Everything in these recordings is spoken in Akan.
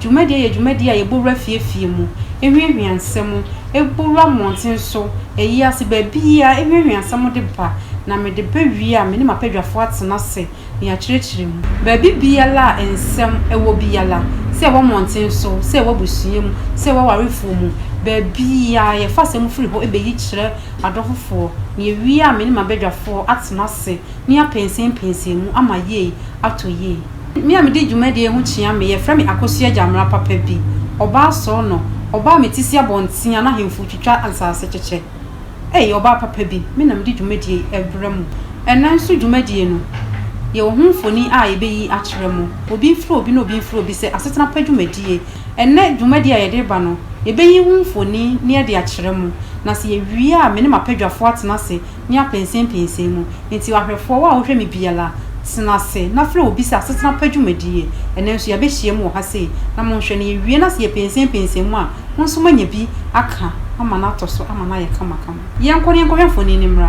Dwumadie yɛ dwumadie a yɛbɔ wura fie fie mu, ɛhwiahwia nsɛm, ɛbɔ wura mmɔnten so, ayi ase, baabiara, ɛhwiahwia nsɛm de ba, na mede bɛ wie a, me ne m'abadwafoɔ atena ase na yɛakyerɛkyerɛ mu. Baabi biara a nsɛm wɔ biara, sɛ ɛwɔ mmɔnten so, sɛ ɛwɔ abusua mu, sɛ ɛwɔ awarefoɔ mu, baabiara, yɛfa asɛm firi hɔ bɛyi kyerɛ adɔfofoɔ, na yɛwie a, me ne m'abadwafoɔ atena ase na yɛapɛnsɛmpɛnsɛn mu ama yei atɔ yie. Me a mede dwumadie yi ho kyea me, yɛfrɛ me Akosua Gyamera papa bi, ɔbaa Sono, ɔbaa a mete si abɔnten a n'ahemfo retwitwa nsase kyekyɛ. Ei, ɔbaa papa bi, me na mede dwumadie yi rebrɛ mo. Ɛnnɛ nso dwumadie no, yɛwɔ ho mfoni a yɛbɛyi akyerɛ mo. Obi mfiri obi na obi mfiri obi sɛ asetena pa dwumadie. Ɛnnɛ dwumadie a yɛde reba no, yɛbɛyi ho mfoni na yɛde akyerɛ mo, na sɛ yɛwie a me ne m'apadwafoɔ atena ase ne apɛnsɛmpɛnsɛn mu. Enti ahwɛfoɔ, wo a wohwɛ me biara, tena ase na frɛ obi sɛ asetena pa dwumadie. Ɛnnɛ nso yɛabɛhyiam wɔ ha sei, na monhwɛ, na yɛwie na sɛ yɛpɛnsɛmpɛnsɛn mu a, mo nso moanya bi aka ama no atɔ so ama no ayɛ kamakama. Yɛnkɔ na yɛnkɔhwɛ mfonin no mmra.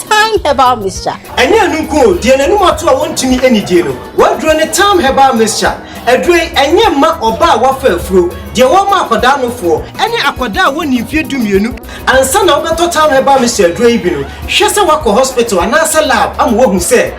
Thyme Herbal Mixture. Ɛnyɛ ɛno nko o, deɛ n'anim ato a wɔntumi nnidie no, w'aduro ne Thyme Herbal Mixture. Aduro yi, ɛnyɛ mma ɔbaa a wafa afuro, deɛ wɔma akwadaa nofoɔ, ɛne akwadaa a wɔnnii mfeɛ dumienu. Ansa na wobɛtɔ Thyme Herbal Mixture aduro yi bi no, hwɛ sɛ woakɔ hospital anaasɛ lab ama wɔahu sɛ.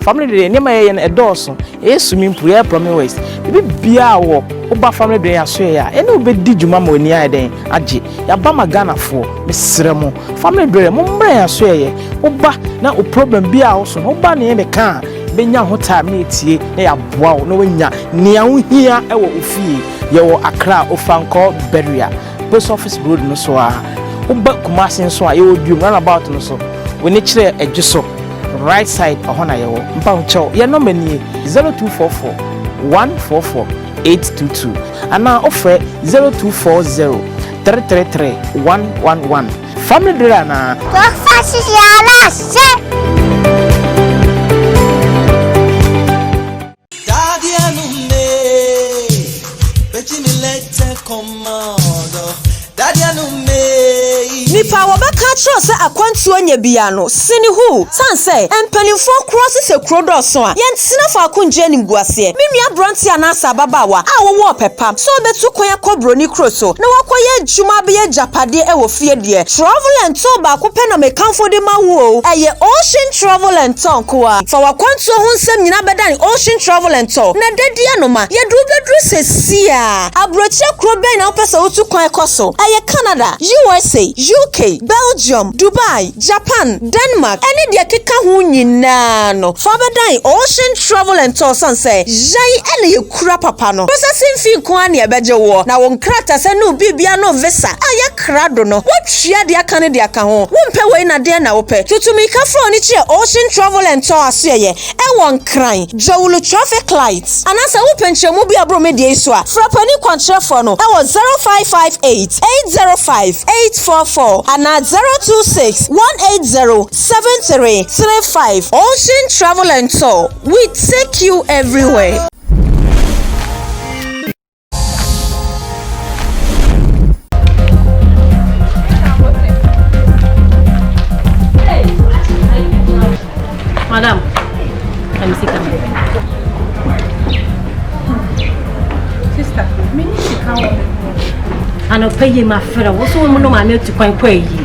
Family dwene nneɛma yɛyɛ no ɛdɔɔso yɛyɛ swimming pool yɛyɛ plumbing works biribi biara wɔ woba family dwene yɛasoɛ yɛ a yɛne wo bɛdi dwuma ma w'ani ayɛ dɛn agye yɛaba ma Ghanafoɔ mesrɛ mo family dwene mo mmra yɛasoɛ yɛ woba na wo problem bi a woso no woba ne yɛn bɛka a bɛnya ho time ne atie na yɛaboa wo na woanya nea wohia wɔ wo fie yɛwɔ Accra Ofankor Beria. Post Office Road no so ara. Woba Kumasi nso a, yɛwɔ Duom runabout no so. W'ani kyerɛ adwo so, right side, ɛhɔ na yɛwɔ. Mpahokyɛw, yɛn nɔma nie, 0244 144 822 anaa wofrɛ 0240 333 111. Fam no duru anaa? Wɔmfa hyehyɛ anaasɛ? Daddy anume, bejimi lete komodo. Daddy anume. Nipa a wɔbɛka akyerɛ wo sɛ akwantuo nyɛ biaa no sene hu sane sɛ mpaninfoɔ korɔ se sɛ kuro dɔɔso a yɛntena faako ngye animguaseɛ. Me nua abranteɛ anaase ababaawa a wowɔ ɔpɛ pa sɛ wobɛtu kwan akɔ broni kuro so na wakɔ yɛ adwuma abɛyɛ agyapadeɛ wɔ fie deɛ travel and tour baako pɛ na mekamfo de ma wo o ɛyɛ Ocean Travel and Tour nko ara. Fa w'akwantuo ho nsɛm nyinaa bɛdane Ocean Travel and Tour na da di ano ma yɛde wo bɛduru seesei ara. Aburokyire kuro bɛn na wopɛ sɛ wotu kwan kɔ so? Ɛyɛ Canada, USA, UK, Belgium, Dubai, Japan, Denmark, ne deɛ ɛkeka ho nyinaa no, fa bɛdane Ocean Travel and Tour sane sɛ yɛn na yɛkura papa no. Processing fee nko ara na yɛbɛgye woɔ, na wo nkratasɛm ne wo biribiara ne wo visa a yɛaka krado no, woatua deɛ aka no de aka ho. Wompɛ wei na deɛn na wopɛ? Tutumirikafo a wɔn ani kyerɛ Ocean Travel and Tour asoɛeɛ ɛwɔ Nkran, Dzawulu Traffic Light. Anaa sɛ wopɛ nkyerɛmu bi a ɛboro me deɛ yi so a, frɛ panin kwankyerɛfoɔ no ɛwɔ 0558 805 844 anaa 026 180 7335. Ocean Travel and Tour, we take you everywhere. Madam, let me see come here. Sister, me need to come. Anɔpa yi ma frɛ wo so wɔn nom ano atu kwan kɔ ayie.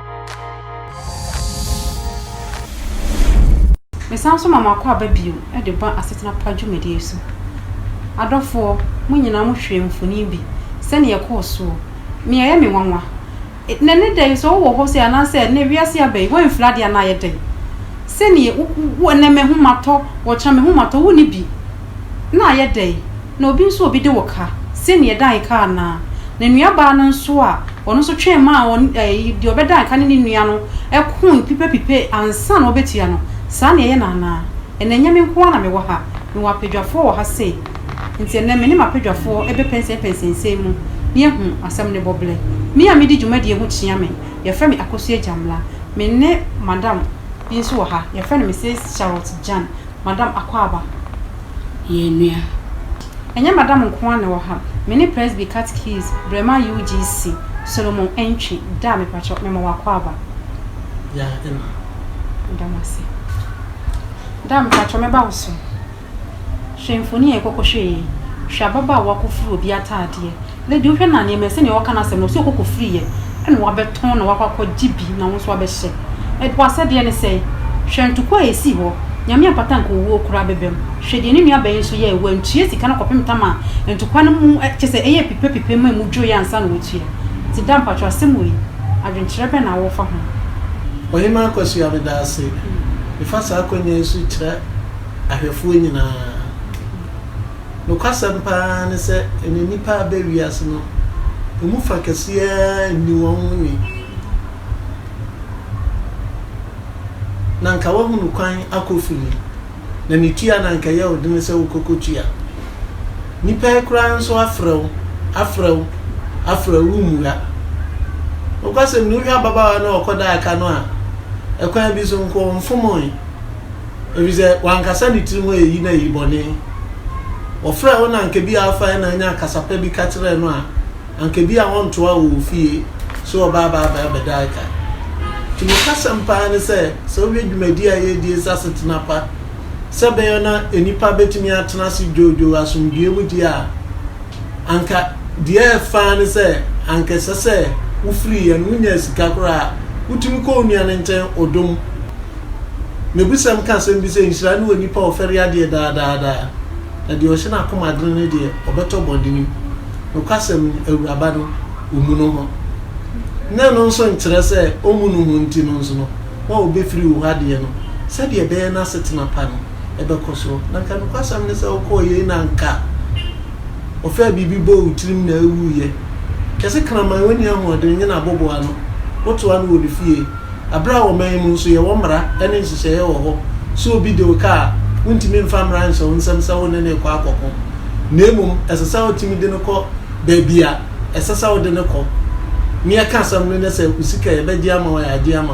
Mesan nso ma makɔ aba bio de ba asetena pa dwumadie so. Adɔfoɔ, mo nyinaa mo hwɛɛ mfoni bi sɛnea ɛkɔɔ soɔ. Nea ɛyɛ me nwanwa, na ne dɛn sɛ wowɔ hɔ sɛ anaasɛ ɛnɛ wiase aba yi woamfiri adeɛ anaa yɛ dɛn? Sɛnea wo, wo, ɛnɛ mahu matɔ, wɔkyena mahu matɔ, wonni bi. Na ayɛ dɛn? Na obi nso a obi de wo ka, sɛdeɛ ɛdan ka anaa? Na nuabaa no nso a ɔno nso twɛn maa deɛ ɔbɛdan ka ne ne nua no ko pipapipe ansa na wɔbɛtua no, saa na ɛyɛ no anaa? Ɛnnɛ ɛnyɛ me nko ara na mewɔ ha, mewɔ apadwafoɔ wɔ ha sei. Enti ɛnnɛ me ne m'apadwafoɔ bɛpɛnsɛnpɛnsɛn nsɛm mu na yɛahu asɛm no bɔberɛ. Me a medi dwumadie ho kyea me, yɛfrɛ me Akosua Agyamla. Me ne madam bi nso wɔ ha, yɛfrɛ no Misis Charlotte Jan, Madam Akwaaba. yɛn nua. Ɛnyɛ Madam nko ara na ɛwɔ ha, me ne Presby Catechist Brema UGC, Solomon Antwi, Daa mepakyɛw mema wo akwaaba. Yaa Emma. Meda mo ase. Daa mepakyɛw mɛba wo so. Hwɛ mfoni a yɛkɔkɔhwɛɛ yi, hwɛ ababaawa kofiri obi ataadeɛ. Na deɛ wohwɛ no a, nneɛma yi, sɛdeɛ wɔka no asɛm no, sɛ ɔkɔkɔ firi yɛ, ɛna wabɛtɔn na wakɔ akɔ gye bi na wo nso abɛhyɛ. Ɛ, w'asɛdeɛ ne sɛn? Hwɛ ntokua a ɛsii hɔ. Nyame ampata anka owuo koraa bɛbam. Hwɛ deɛ ne nua baa yi nso yɛɛ, wantua sika no kɔpem tam a ntokua no mu ɛ, kyerɛ sɛ ɛyɛɛ pipe pipe ma ɛmu dwoeɛ ansa na watua. Nti da mpakyɛw, asɛm wei, adwenkyerɛ bɛn na wofa ho? Ɔhemaa Kwasua, meda ase. Mefa saa akwanya yi so kyerɛ ahwɛfoɔ nyinaa. Nokwasɛm paa ne sɛ, ɛnnɛ nnipa a aba wiase no, emu fã kɛse ara nni wɔn ho nwi, na anka wɔahu no kwan akɔ fi mu, na ne tua no anka ɛyɛ wo den sɛ wokɔkɔtua. Nnipa yi koraa nso afrɛ wo, afrɛ wo, afrɛ wo, wummua. Nokwasɛm ni, wohwɛ ababaawa no a ɔkɔdaa ka no a, ɛkwan bi so nko, ɔmfomoe. Efisɛ wankasa ne tirim hɔ eyi na eyi bɔne. Wɔfrɛɛ wo na anka ebia wofae na anya kasa pa bi ka kyerɛɛ no a, anka ebia wɔntoaa wo wɔ fie sɛ ɔbaa baa baa bɛdae ka. Enti nokwasɛm paa ne sɛ, sɛ wohwɛ dwumadi a yɛredi asi asetena pa sɛ ɛbɛyɛ na nnipa betumi atena ase dwoodwoo asomdwoe mu deɛ a, anka deɛ ɛyɛ fã ne sɛ anka ɛsɛ sɛ wofiri yɛ no, wonyaa sika koraa a, wotumi kɔ wo nua no nkyɛn odom. N'abusɛm ka asɛm bi sɛ, Nhyira ne onipa a ɔfɛre adeɛ daa daa daa, na deɛ ɔhyɛ n'akoma dene no deɛ, ɔbɛtɔ bɔne mu. Nokwasɛm no, Awuraba no, ɔmmu no ho. Na ɛno nso nkyerɛ sɛ ɔmmu no ho nti no nso no, na ɔbɛfiri wo hɔ adeɛ no, sɛdeɛ ɛbɛyɛ n'asetena pa no bɛkɔ soɔ. Na anka nokwasɛm ne sɛ wokɔɔ yei na anka ɔfaa biribi bɔɔ wo tirim na ɛwuiɛ. Kɛse kraman, ɔnni ahoɔden, nyɛ n'aboboano, wotoa no wɔ ne fie. Bere a ɔman mu nso yɛwɔ mmara ne nhyehyɛe wɔ hɔ sɛ obi de wo ka a, wontumi mfa mmara nhyɛ wo nsam sɛ wo ne no rekɔ akɔko, na mmom ɛsɛ sɛ wotumi de no kɔ baabi a ɛsɛ sɛ wode no kɔ. Nea ɛka asɛm no ne sɛ wo sika a yɛbɛgye ama wo a yɛagye ama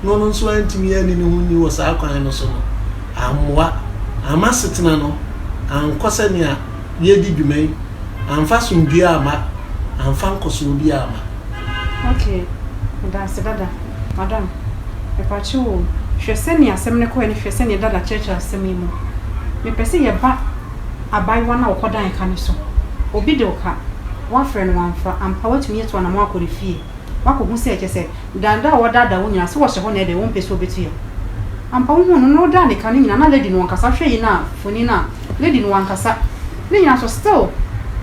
wo no, ɔno nso antumi anni ne ho nni wɔ saa kwan no so no, ammoa, amma asetena no ankɔ sɛnea yɛredi dwuma yi, amfa asomdwoe amma, amfa nkɔsoɔ biara amma. Okay, medase dada. Madam, mepakyɛ o, hwɛ sɛnea asɛm no kɔe na hwɛ sɛnea dada kyerɛkyerɛ asɛm yi mu. Mepɛ sɛ yɛba abaayewa no a ɔkɔdan ka no so. Obi de wo ka, woafrɛ no wamfa, ampa woatumi atu anamɔn akɔ ne fie. Woakɔhu sɛ kyerɛ sɛ dada a ɔdaadaa wo nyinaa, sɛ ɔhyɛ hɔ na ɛdɛn, ɔmpɛ sɛ ɔbɛtua. Ampa wohuu no na ɔdaa ne ka no nyinaa, na lady no ɔnkasa. Hwɛ yi no a, mfoni no a. Lady no wankasa ne nyina so still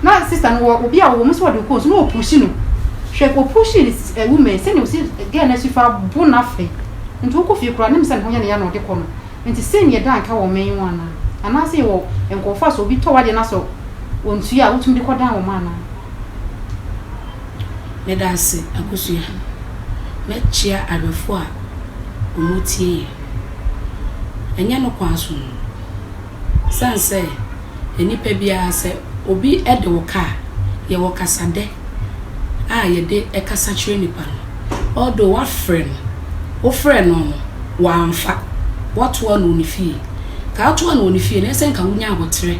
na sister no wɔ obi a ɔwɔ mu sɛ ɔde kɔ nsu na ɔpushi no hwɛ ɔpushi no eh woman sɛnea ɔsi girl no asi fa bo no afɛ nti wokɔ fie koraa nim sɛ ne ho yɛ no ya na ɔde kɔ no nti sei na yɛda nka wɔ ɔman yi mu anaa anaa sɛ yɛwɔ nkɔɔfo a sɛ obi tɔ wadeɛ na sɛ ɔntua a wotumi de kɔ dan wɔn anaa. Meda ase akosua. Mɛkyea awɛfo a wɔtie yɛn. Ɛnyɛ no kwan so no. Esiane sɛ nnipa biara, sɛ obi de wo ka a, yɛwɔ kasadɛ a yɛde kasa kyerɛ nipa no. Although woafrɛ no, wofrɛɛ no no, wamfa, woatoa no wɔ ne fie. Nka woatoa no wɔ ne fie no, ɛyɛ sɛ nka wonya aboterɛ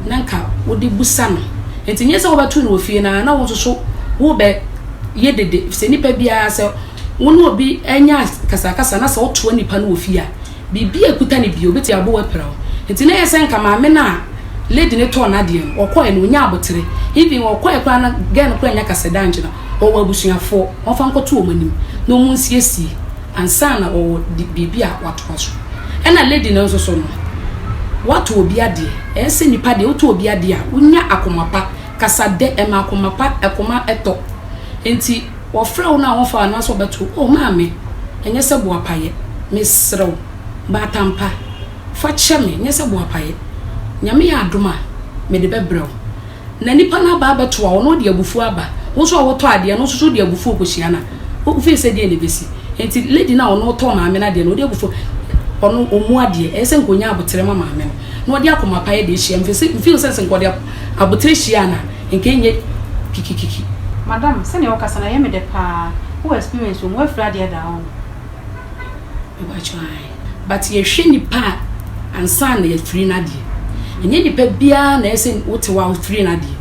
na nka wode bisa no. Enti nyɛ sɛ wobɛto no wɔ fie no ara na wo nso so wobɛyɛ dede, efisɛ nnipa biara, sɛ wo ne obi anya akasakasa na sɛ wotoa nipa no wɔ fie a, Biribi a ɛkuta no bio bɛtumi abɔ wo apira wo. Nti na ɛyɛ sɛ nka maame no a lady no tɔɔ no adeɛ no, ɔkɔeɛ no ɔnyaa aboterɛ. Even ɔkɔeɛ koraa no, girl no koraa nnya ka sɛ da nkyɛ no ɔwɔ abusuafoɔ, wɔmfa nkɔto wɔn anim na wɔnsiesie ansa na ɔwɔ biribi a watoa so. Ɛna lady no nso so no, woatɔ obi adeɛ, ɛyɛ sɛ nipa deɛ wotɔ obi adeɛ a, wonya akoma pa. Kasa dɛ ma akoma pa, akoma tɔ. Nti Wɔfrɛ wo no a wɔmfa wo anaasɛ wɔbɛto wo, O maame, ɛnyɛ sɛ boapayɛ. Mesrɛ wo, baatan pa, fa kyɛ me, nyɛ sɛ boapayɛ. Nyame yɛ adom a, mede bɛbrɛ wo. Na nipa no aba abɛtoa wo na ɔde abufuo aba, wo nso a wotɔ adeɛ no nso so wode abufuo kɔhyia no a, wofii sɛ deɛn na ɛbɛsi? Enti lady no a ɔno ɔtɔɔ maame no adeɛ no, ɔde abufuo, ɔno ɔmmu adeɛ, ɛyɛ sɛ nka ɔnya aboterɛ ma maame no, na ɔde akomapa yɛ deɛ hyia, mfii sɛ nka ɔde aboterɛ hyiaa no a, Nka ɛnyɛ kikikiki. Madam, sɛnea wokasa no ayɛ me dɛ paa, wowɔ experience wɔ mu, woafiri adeɛ daa oo. Mepakyɛw ae. But yɛhwɛ nnipa a ansa na yɛafiri no adeɛ. Ɛnyɛ nnipa biara na ɛyɛ sɛ wote hɔ a wofiri no adeɛ.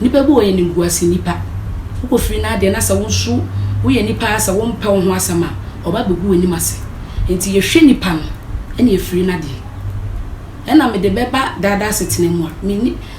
Nnipa bi wɔ hɔ yɛ animguase nnipa. Wokɔfiri no adeɛ na sɛ wo nso woyɛ nnipa a sɛ wompɛ wo ho asɛm a, wɔba bɛgu w'anim ase. Enti yɛhwɛ nnipa no ɛna yɛfiri no adeɛ. Ɛna mede bɛba daadaa asetena mu a, menni.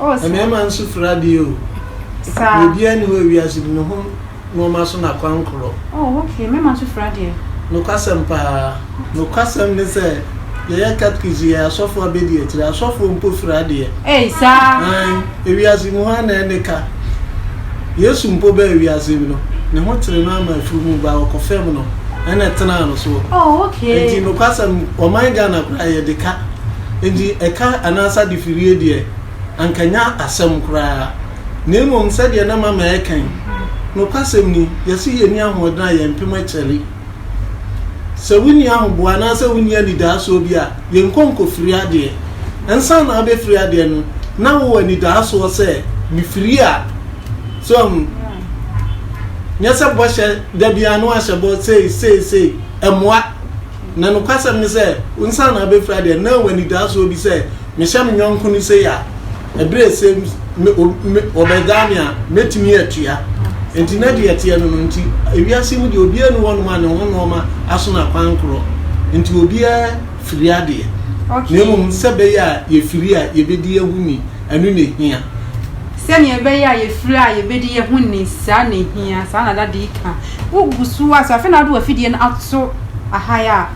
Oh saa. Mmarima nso fira adeɛ o. Saa. Deɛ obiara nni hɔ wɔ wiase no ne ho nnoɔma so na kwan korɔ. Oh okay, mmarima nso fira adeɛ. Nokwasɛm paa. Nokwasɛm ne sɛ yɛyɛ Cathkics yi yɛ asɔfoɔ abɛdi akyire. Asɔfoɔ mpo fira adeɛ. Ei saa. Aane, ewiase mu hɔ ara na ɛne ka. Yesu mpo baa ewiase mu no, ne ho tere no ara ma afunumu baa ɔkɔ fam no ɛna ɛtenaa no soɔ. Oh okay. Enti nokwasɛm, ɔman Ghana koraa yɛde ka. Enti ɛka anaasɛ adefirie deɛ, anka ɛnyɛ asɛm koraa, na mmom sɛdeɛ na Mama reka yi, nokwasɛm ni, yɛse yɛnni ahoɔden a yɛmpem akyɛre. Sɛ wonni ahoboa anaasɛ wonni anidaasoɔ bi a, yɛnkɔ nkɔfiri adeɛ. Ansa na wobɛfiri adeɛ no, na wowɔ anidaasoɔ sɛ, mefiri a. So ahu? Nyɛ sɛ bɔhyɛ, da biara na wahyɛ bɔ, sei, sei, sei. Ɛmmoa. Na nokwasɛm ne sɛ, wo nsa na abɛfira deɛ na w'anidaasoɔ bi sɛ mehyɛ me yɔnko no sei a, ɛberɛ a ɛsɛ me, o, me, ɔbɛgyaa me a, mɛtumi atua. Enti na deɛ ɛteɛ no no nti, ewiase mu deɛ obiara nni hɔnom a ne ho nnoɔma aso no akwankorɔ nti obiara firi adeɛ, na mmom sɛ ɛbɛyɛ a yɛfiri a yɛbɛdi yɛn ho ni, ɛno na ɛhia. Sɛdeɛ ɛbɛyɛ a yɛfiri a yɛbɛdi yɛn ho ni, saa na ɛhia, saa na Dade reka. Wogu so ara sɛ afei na wode w'afidie no ato ahae a,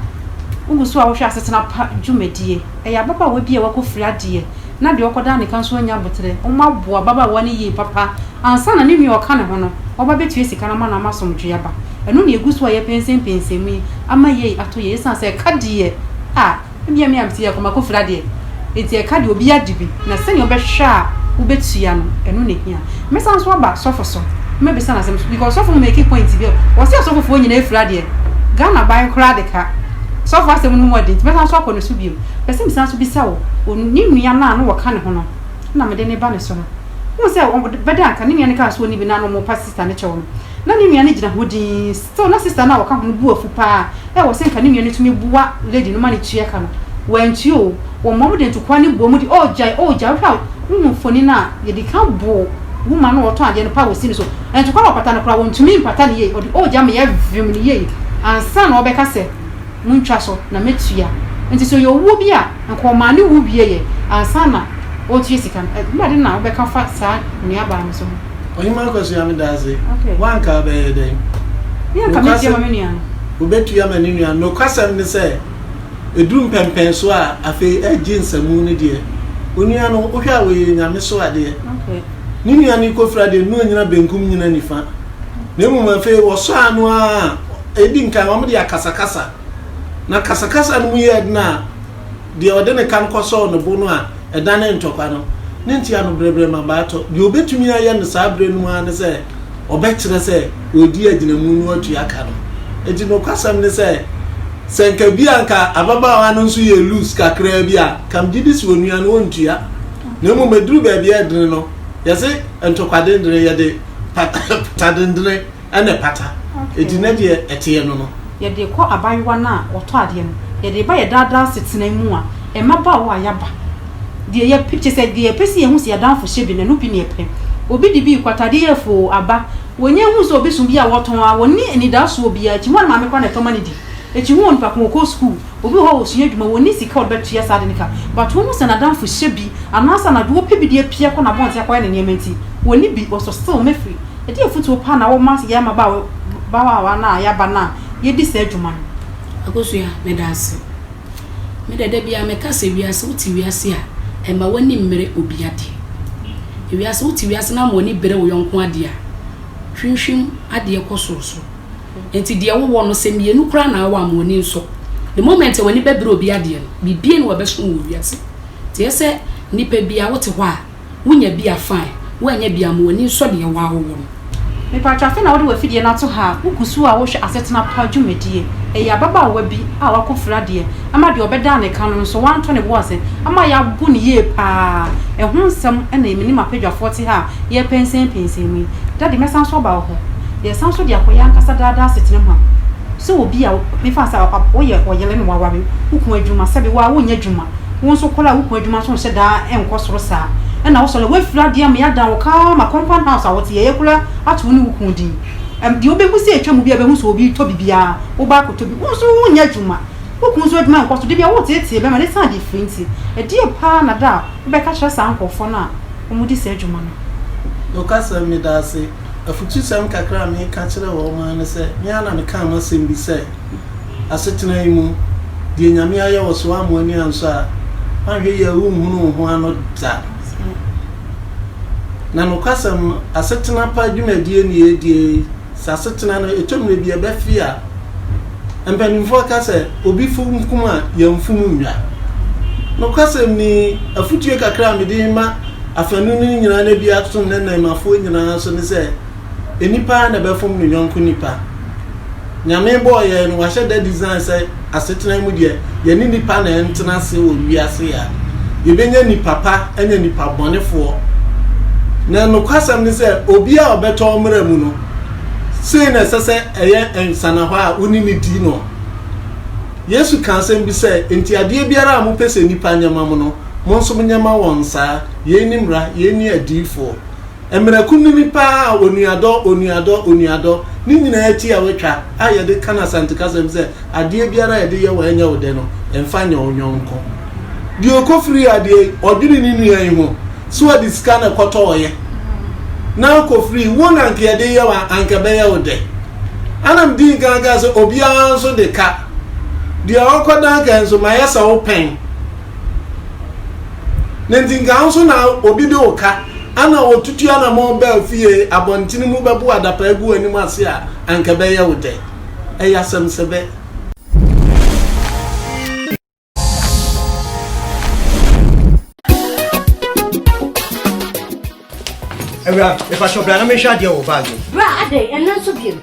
wogu so ara wohwɛ asetena pa dwumadie. Ɛyɛ ababaawa bi a wakɔfiri adeɛ na deɛ ɔkɔdaa ne ka nso anya aboterɛ. Wɔaboa ababaawa no yie papa. Ansa na ne nua a ɔka ne ho no, ɔba bɛtua sika no ama no ama asomdwoeɛ aba. Ɛno na yɛgu so a yɛpɛnsɛmpɛnsɛm yi ama yei atɔ yei ɛsiane sɛ ɛka deɛ a, Ebia me a mete yɛ koma kofira deɛ, enti ɛka deɛ obi agye bi na sɛnea wobɛhwɛ a wobɛtua no, ɛno na ɛhia. Mɛsan nso aba sɔfo so, mɛbisa no asɛm nso because sɔfo make point bi, ɔse asɔfofoɔ nyinaa afira deɛ, Ghana ban koraa de ka, sɔfo asɛm no mu ɔden nti mɛsan nso akɔ ne so bio. Mepɛ sɛ mesan nso bisa wo, ɔn, ne nua no a na wɔka ne ho no, na mede no ba ne so no, wohu sɛ ɔbɛda anka ne nua no kaa sɛ ɔnni bi na na wɔpa sister no kyɛw no, Ná ne nua no gyina hɔ dinn. Still, na sista no a ɔka ho no bo afu paa. Ɛwɔ sɛ anka ne nua no tumi boa lady no ma no tua ka no. Wantua oo. Wɔmmoa mu de ntokua no boa mu de, Oh, gyae, oh, gyae. Wohwɛ a, wohu mfoni no a, yɛde ka boo woman no a ɔtɔn adeɛ no paa wɔ sini so. Ntokua no ɔpata no koraa, wɔntumi mpata no yie. Ɔde oh gyae ma yɛvem no yie ansa na ɔbɛka sɛ, Montwa so na matua. Enti sɛ ɔyɛ owuo bi a, anka ɔmaa ne wu wieeɛ ansa na ɔretua sika no. Ɛnneɛ adeɛ na wobɛka afa saa nuabaa no so ho? Ɔhemaa Kwasua meda ase. Okay. Woanka a bɛyɛ dɛn? Me anka mɛtua ma me nua no. Wobɛtua ma ne nua no. Nokwasɛm ne sɛ, ɛduru mpɛmpɛn so a, afei agye nsamu no deɛ, onua no, wohwɛ a ɔyɛ Nyame so adeɛ. Okay. Ne nua no rekɔfira deɛ, na ɔnnyina benkum nnyina nifa. Na mmom afei wɔsɔ ano a, ɛdi nkan wɔde akasakasa. Na kasakasa no mu yɛ den a, Deɛ ɔde ne kan kɔsɔɔ ne bo no a ɛdane ntɔkwa no, ne nte ano brɛbrɛ ma baa tɔ. Deɛ ɔbɛtumi ayɛ no saa berɛ no mu ara ne sɛ ɔbɛkyerɛ sɛ ɔredi agyinamu na watua ka no. Enti nokwasɛm ne sɛ, sɛ nka bi a nka ababaawa no nso yɛ loose kakraa bi a, nka megye di sɛ ɔnua no ɔntua. Na mmom ɛduru baabi a ɛdene no, yɛse ntɔkwa dendene, yɛde pata dendene. Ɛna ɛpata. Enti na deɛ ɛteɛ no no. Yɛde kɔ abaayewa no a ɔtɔ adeɛ no. Yɛde ba yɛ daa daa asetena mu a mmabaawa a yɛaba. Deɛ yɛpɛ, kyerɛ sɛ deɛ yɛpɛ sɛ yɛhu sɛ yɛadamfo hyɛ bi no, ɛno bi na yɛpɛ. Obi de bi rekɔ atadeɛ yɛrefo oo, aba. Wɔnya hu sɛ obi so bi a wɔtɔn ara, wɔnni anidasoɔ biara akyi. Hɔ ara ne maame koraa na ɛtɔ ma no di. Akyi hɔ onipa ko no ɔkɔ sukuu, obi wɔ hɔ a ɔsua adwuma, wɔnni sika a wɔde bɛtua saa ade no ka. But wɔhu sɛ n'adamfo hyɛ bi, anaasɛ anadwo wɔpɛ bi de apia kɔ n'abɔnten akɔyɛ ne nneɛma nti, wɔnni bi, ɔsɔ still mɛfiri. Ɛdeɛn afotuo pa na woma yɛn mmabaawa no a yɛaba no a yɛdi saa dwuma no? Akosua, Meda ase. Me dɛ da biara meka sɛ wiase, wote wiase a, mma w'ani mmere obi adeɛ. Wiase, wote wiase na ama w'ani bere wo yɔnko adeɛ a, hwimhwim adeɛ kɔ sorosoro. Enti deɛ wowɔ no, sɛ mmienu koraa na wowɔ a, ma w'ani nsɔ. The moment a w'ani bɛbere obi adeɛ no, biribiara nni hɔ a ɛbɛso wo wɔ wiase. Nti ɛyɛ sɛ nnipa biara, wote hɔ a, Wonya bi a fine, woannya bi a ma w'ani nsɔ deɛ woa wowɔ no. Mepakyɛw afei na wode w'afidie no ato ha a wogu so a wohwɛ asetena pa dwumadie? Ɛyɛ ababaawa bi a wako firi adeɛ ama deɛ ɔbɛdan ne ka no nso wanto ne bo ase ama yɛago no yie paa ɛho nsɛm na yɛ me ne m'apadwafoɔ te ha a yɛrepɛnsɛnpɛnsɛn mu yi. Daddy mɛsan so aba wo hɔ yɛsan so de akɔ yɛn ankasa daa daa asetena mu ha. Sɛ obi a mefa no sɛ woyɛ ɔyere na woaware wo kunu adwuma sɛbe wo ara wonnya adwuma Wo nso kɔr a wo kun edwuma so nhyɛ da nnkɔ sor saa. Nna wo so nna woefir adze ama yɛadan wo kaama, compound house a wɔtse yɛyɛ kor ara ato wo nye wo kun dzin. Dza obehu sɛ etwa mu biara behu sɛ obi tɔ biribi ara, wo ba akɔtɔ bi. Wo nso wo nnyɛ edwuma, wo kun so edwuma nnkɔ sor, da bi a woretseetsee bɛma no esian difir ntsi. Ɛdeɛn paa na da a wobɛka kyerɛ saa nkorɔfoɔ no a wɔdi saa edwuma no? Nokwasɛm, Medaase. Afutusɛm kakra a mereka kyerɛ wɔn ara ne sɛ, me ara na mekaa m'asɛm bi sɛ, asetena yi mu, deɛ Nyame ayɛ wɔ so woammo ani ansɔ a, woanhwɛ yie a wonhunu wo ho ano da. Na nokwasɛm no, asetena pa dwumadie ne yɛredie yi, sɛ asetena no ɛtɔ mmerɛ bi ɛbɛfe a, mpanimfoɔ ka sɛ obi funkum a yɛmfom nnwa. Nokwasɛm ni, afotue kakra a mede ma afanu no nyinaa na bi ato ne nnɛɛmafoɔ nyinaa so ne sɛ, Nnipa ara na ɛbɛfom ne yɔnko nnipa. Nyame bɔɔ yɛn no, wahyɛ da design sɛ asetena mu deɛ, yɛne nnipa na ɛntena ase wɔ wiase yɛ a, yɛbɛnya nnipa pa ne nnipa bɔnefoɔ. Na nokwasɛm ne sɛ, obi a ɔbɛtɔ wo mmara mu no, sei na ɛsɛ sɛ ɛyɛ nsanahɔ a wo ne no di no. Yesu ka asɛm bi sɛ, Enti adeɛ biara a mopɛ sɛ nnipa nyɛ ma mo no, mo nso monyɛ ma wɔn saa. Yei ne mmara, yei ne adiyifoɔ. Mmerɛ kunini paa a onuadɔ, onuadɔ, onuadɔ, ne nyinaa akyi a wɔatwa a yɛde ka no Asante kasam sɛ adeɛ biara a yɛde yɛ wo a ɛnyɛ wo dɛ no, mfa nyɛ wo yɔnko. Deɛ ɔkɔfirii adeɛ yi, ɔdwene ne nua yi ho sɛ ɔde sika na ɛkɔtɔeɛ na akɔfirii wo na anka yɛde yɛ wo a, anka ɛbɛyɛ wo dɛ? Ɛna medii nkan kaa sɛ obiara nso de ka deɛ ɔkɔdan kae nso mayɛ sɛ wopɛn ne nti nka wo nso na obi de wo ka Ana wotutu anamɔn baa fie abɔnten mu bɛbow adapaa agu w'anim ase a, anka ɛbɛyɛ wo dɛ? Ɛyɛ asɛm sɛ bɛ! Awuraa, mepakyɛ bra na menhwɛ adeɛ wɔ wo bag mu. Bra adɛn? Ɛno nso biom?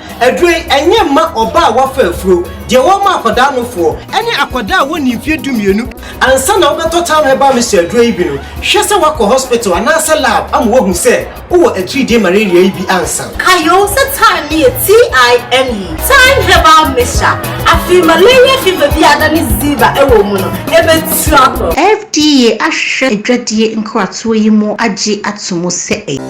Aduro yi, ɛnyɛ mma ɔbaa a wafa afuro, deɛ wɔma akwadaa nofoɔ. Ɛne akwadaa a wɔnnii mfeɛ dumienu. Ansa na wobɛtɔ Town Herbal Mixture aduro yi bi no, hwɛ sɛ woakɔ hospital anaasɛ lab ama wɔahu sɛ wowɔ atiridie malaria yi bi ansa. Kayo sɛ time no yɛ TIME, Time Herbal Mixture. Afei malaria fever bi a na ne ziva wɔ mu no, ɛbɛtu akɔ. FDA ahwehwɛ adwadie nkratoɔ yi mu agye ato mu sɛ ɛyɛ.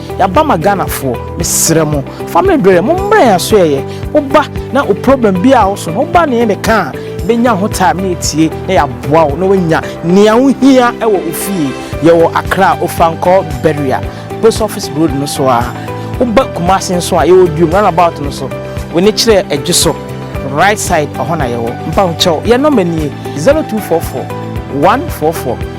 Yaba ma Ghana foɔ mesrɛ mo family berɛ mo mmerɛ yɛn aso yɛyɛ woba na wo problem bi a wo so no woba ne yɛn de ka a bɛnya ho time ne yɛtie na yɛaboa wo na woanya nea wo hia wɔ wo fie yɛwɔ Accra Ofankɔ Beria post office road no so a woba Kumasi nso a yɛwɔ Duom run about no so wo ne kyerɛ adwo so right side ɔhɔ na yɛwɔ mpa ho kyɛw yɛn nɔmba nie 0244 144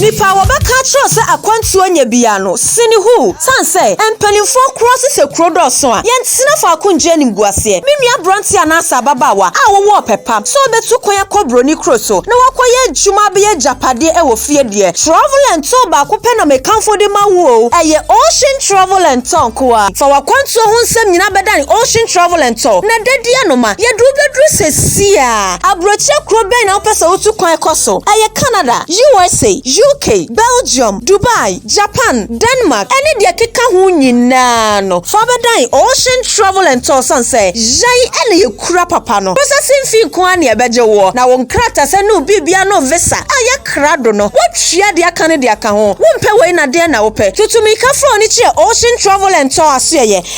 Nipa a wɔbɛka akyerɛ sɛ akwantuo nyɛ biaa no sene huu sane sɛ mpaninfoɔ korɔ se sɛ kuro dɔɔso a yɛntena faako ngye animguaseɛ. Me nua abranteɛ anaasɛ ababaawa a wowɔ ɔpɛ pa sɛ wobɛtu kwan akɔ broni kuro so na wakɔyɛ adwuma abɛyɛ agyapadeɛ ɛwɔ fie deɛ Travel and Tour baako pɛ na mekamfo de ma wo oo ɛyɛ Ocean Travel and Tour nkoa. Fa wakwantuo ho nsɛm nyinaa bɛdane Ocean Travel and Tour na dadiɛ no ma yɛde wo bɛduru sesie a. Aburokyerɛ kuro bɛn na wopɛ sɛ wotu kwan kɔ so? Ɛyɛ Canada, USA, UK, Belgium, Dubai, Japan, Denmark, ne deɛ ɛkeka ho nyinaa no. Fa bɛdan Ocean Travel and Tours sane sɛ yɛn na yɛkura papa no. Processing fee nko ara na yɛbɛgye woɔ, na wo nkratasɛ ne wo biribiara ne wo visa a ɛyɛ krado no, woatua deɛ aka no de aka ho. Wompɛ wei na deɛn na wopɛ? Tutu mmirika fa w'ani kyerɛ Ocean Travel and Tour asoɛeɛ.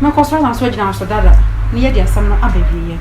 Mɛkɔ so na so agyina so dada na yɛde asɛm no aba awieɛ.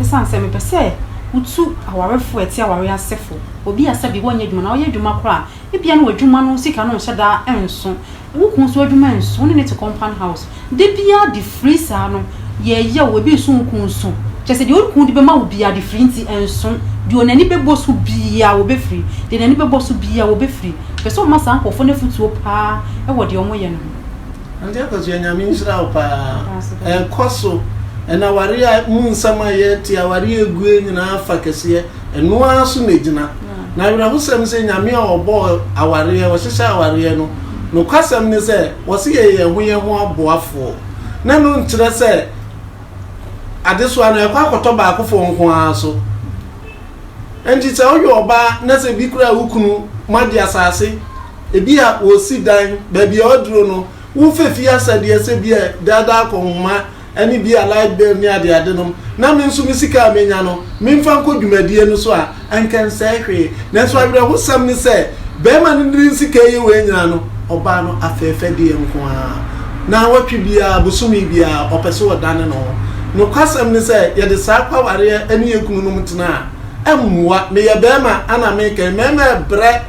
Ɛsiane sɛ mepɛ sɛ wotu awarefo a ɛte aware ase fo, obi a sɛbi wɔnyɛ adwuma anaa ɔyɛ adwuma koraa a, ebia na w'adwuma no sika no nhyɛ da nso, wo kunu nso adwuma nso, wo ne no te compound house, Da biara adefiri saa no yɛ yaw, ebi nso nku nso. Kyerɛ sɛ deɛ ɔreku de bɛma wo biara adefiri nti ɛnso. Deɛ ɔn ani bɛbɔ so biara wɔbɛfiri, deɛ n'ani bɛbɔ so biara wɔbɛfiri. Pɛ sɛ ɔma saa nkorɔfoɔ no afutuo paa wɔ deɛ wɔyɛ no ho. Auntie Akosua Nyame nhyira wo paa. Ɛkɔ so. Ɛna awareɛ mu nsɛm a yɛte, awareɛ ɛguɛ nyinaa fa kɛseɛ. Ɛno ara so na egyina. Na awerɛhosɛm sɛ Nyame a ɔbɔɔ awareɛ, ɔhyehyɛ awareɛ no, nokwasɛm ne sɛ ɔse yɛyɛ yɛn ho yɛn ho aboafoɔ. Na ɛno nkyerɛ sɛ adesoa no ɛkɔ akɔtɔ baakofoɔ nko ara so. Enti sɛ woyɛ ɔbaa na sɛ bi koraa wo kunu moagye asase, ebi a wɔsi dan, baabi a ɔduro no, wofa fie asɛdeɛ sɛ bi a daadaa kɔnhoma, ne bi a light bill ne adeadenom, na me nso me sika a menya no, memfa nkɔ dwumadie no so a, anka ɛnsɛe hwee. Nanso awerɛhosɛm ne sɛ, barima no de ne sika reyɛ wei nyinaa no, ɔbaa no afɛɛfɛdeɛ nko ara. Naawɔtwe biara, bosome biara, ɔpɛ sɛ ɔdane ne ho. Nokwasɛm ne sɛ, yɛde saa kwawareɛ ne yɛn kununom tena a, ɛmmoa. Meyɛ barima, ɛna meka yi, mmarima rebrɛ.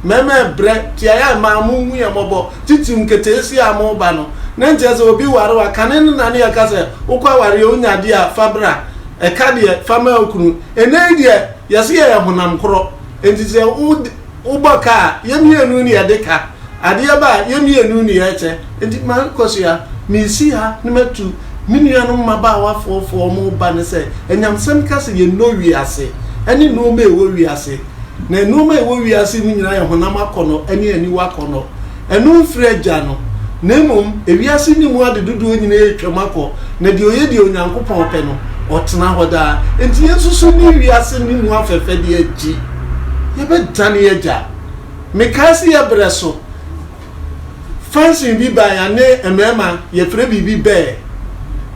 Mɛma ɛbrɛ tiae a ɛmaa monhu yɛn mmɔbɔ, titiriw nketeesia a moreba no. Na ɛnkyɛ sɛ obi waree a, kane no na na yɛka sɛ, 'Wokɔ aware a, wunya ade a, fa bra. Ɛka deɛ, fa ma wo kunu. Ɛnnɛ yi deɛ, yɛse yɛyɛ honam koro. Enti sɛ wobɔ ka a, yɛn mmienu na yɛde ka. Adeɛ ba a, yɛn mmienu na yɛkyɛ. Enti mankɔ so yi ara, meresi ha na matu me nuanom mmabaawa afoofo a wɔreba no sɛ, anyamsɛm ka sɛ yɛnnɔ wiase ne nneɛma a ɛwɔ wiase. Na nnoɔma a ɛwɔ wiase yi mu nyinaa yɛ honam akɔnnɔ ne aniwa akɔnnɔ. Ɛno mfiri Agya no, na mmom ewiase no mu ade dodoɔ nyinaa retwam akɔ, na deɛ ɔyɛ deɛ Onyankopɔn pɛ no, ɔtena hɔ daa. Enti yɛn nso so nni wiase no mu afɛfɛdeɛ akyi. Yɛbɛdane yɛn agya. Mekae sɛ yɛbrɛ so. Function bi baa yɛne mmarima yɛfrɛ biribi bɛɛ,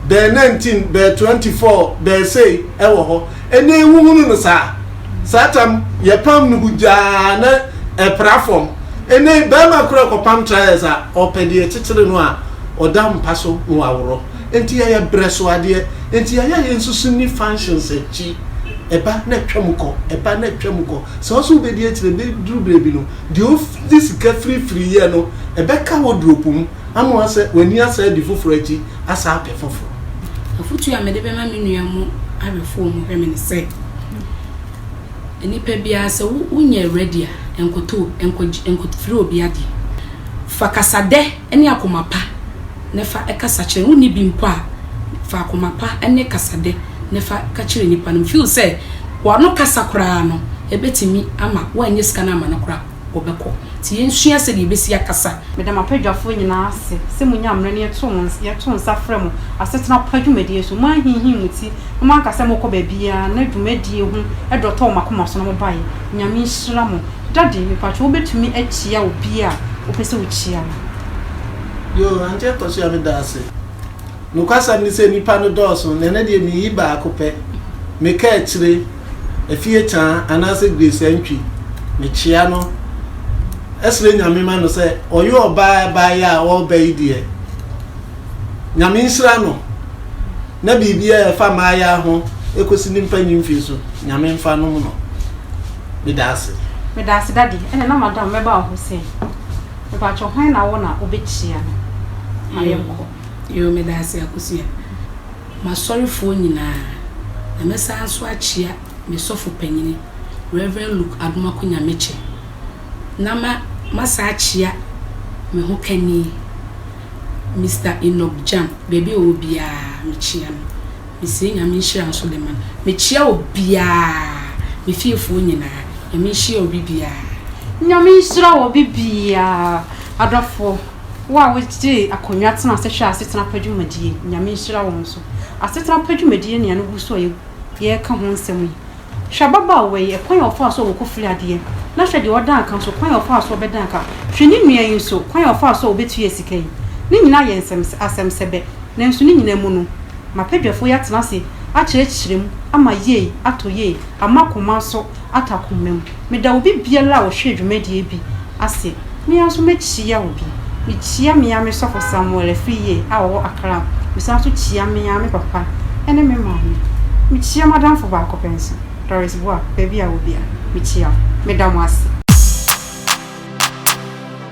bɛɛ 19, bɛɛ 24, bɛɛ sei ɛwɔ hɔ. Ɛnɛ yɛhuhunu no saa. Saa tam yɛpam no hugyaa na ɛpra fam. Ɛnɛ yi barima koraa kɔpam trials a, ɔpɛ deɛ ɛkyekyere no a ɔda mpa so na waworɔ. Enti yɛyɛ brɛ so adeɛ. Enti yɛayɛ a yɛnsusu nni functions akyi. Ɛba na atwam kɔ, ɛba na atwam kɔ. Sɛ wo nso wobɛdi akyire, ɛbɛduru baabi no, Deɛ wode sika firifiri yɛ no, ɛbɛka wɔ duropu mu ama woasɛ w'ani asan adi foforɔ akyi asan apɛ foforɔ. Afotuo a mede bɛma me nua mu awerɛfoɔ mu hwɛme ne sɛ, Nnipa biara sɛ wonyɛ ready a, nkɔtɔ, nkɔgye, nkɔfiri obi adeɛ. Fa kasadɛ ne akoma pa. na fa kasa kyerɛ no. Wonni bi mpo a, fa akoma pa ne kasadɛ na fa ka kyerɛ nipa no. Mefeel sɛ w'ano kasa koraa no, ɛbɛtumi ama woannya sika no amma no koraa a, ɔbɛkɔ. Nti yɛnsua sɛdeɛ yɛbɛsi akasa. Meda m'abadwafoɔ nyinaa ase sɛ monya mmerɛ na yɛto nsa frɛ mo asetena pa dwumadie so. Moanhinhim mo ti na moanka sɛ morekɔ baabiara na dwumadie ho dɔ tɔɔ mo akoma so na mobaeɛ. Nyame nhyira mo. Daddy, mepakyɛ wobɛtumi akyia obi a wopɛ sɛ wokyia no? Yoo, Auntie Akosua meda ase. Nokwasɛm ne sɛ nnipa no dɔɔso na ɛnnɛ deɛ meyi baako pɛ, me kaakyire, Afie Kyaa anaasɛ Grace Antwi. Mekyia no srɛ Nyame ma no sɛ ɔyɛ ɔbaa a baeɛ a ɔreba yi deɛ Nyame nhyira no na biribiara a ɛfa mmayeaa ho kɔsi ne mpanyimfie so Nyame mfa nom no. Meda ase. Meda ase daddy, ɛna na madam mɛba wo hɔ sei. Mepakyɛw hwan na wo na wobɛkyia no ma yɛnkɔ. Yoo meda ase Akosua. M'asɔrefoɔ nyinaa, na mɛsan nso akyia me sɔfo panyini Rev. Luke Adomako Nyamekyɛ, na ma masan akyia me ho kani Mister Enoch Gyang, baabi a ɔwɔ biara mekyia no. Mesee Nyame nhyira nso de ma no. Mekyea obiaa, me fiefoɔ nyinaa. Nyame nhyia obi biaa. Nyame nhyira obi biaa. Adɔfoɔ, wo a wo gyee akonnwa tena ase hwɛ asetena pa dwumadie yi, Nyame nhyira wo nso. Asetena pa dwumadie nea no gu so a yɛ ka ho nsɛm yi. Hwɛ ababaawa yi, ɛkwan a ɔfaa so a ɔkɔ firi adeɛ, na hwɛ deɛ ɔdan ka nso, kwan a ɔfaa so ɔbɛdan ka. Hwɛ ne nua yi nso, kwan a ɔfaa so a ɔbɛtuaa sika yi. Ne nyinaa yɛ nsɛm, asɛm sɛbɛ, nanso ne nyinaa mu no, m'abadwafoɔ yi atena ase akyerɛkyerɛ mu, ama yei atɔ yei, ama akoma nso atɔ akoma mu. Meda obi biara a ɔhwɛɛ dwumadie bi ase, me ara nso mɛkyia obi. Mekyia me ara me sɔfo Samuel Afriyie a ɔwɔ Accra, mesan nso kyia me ara me papa ne me maame. Mekyia m'adamfo baako pɛ nso, Doris Boah, baabi a wɔ biara, mekyia wo. Meda mo ase.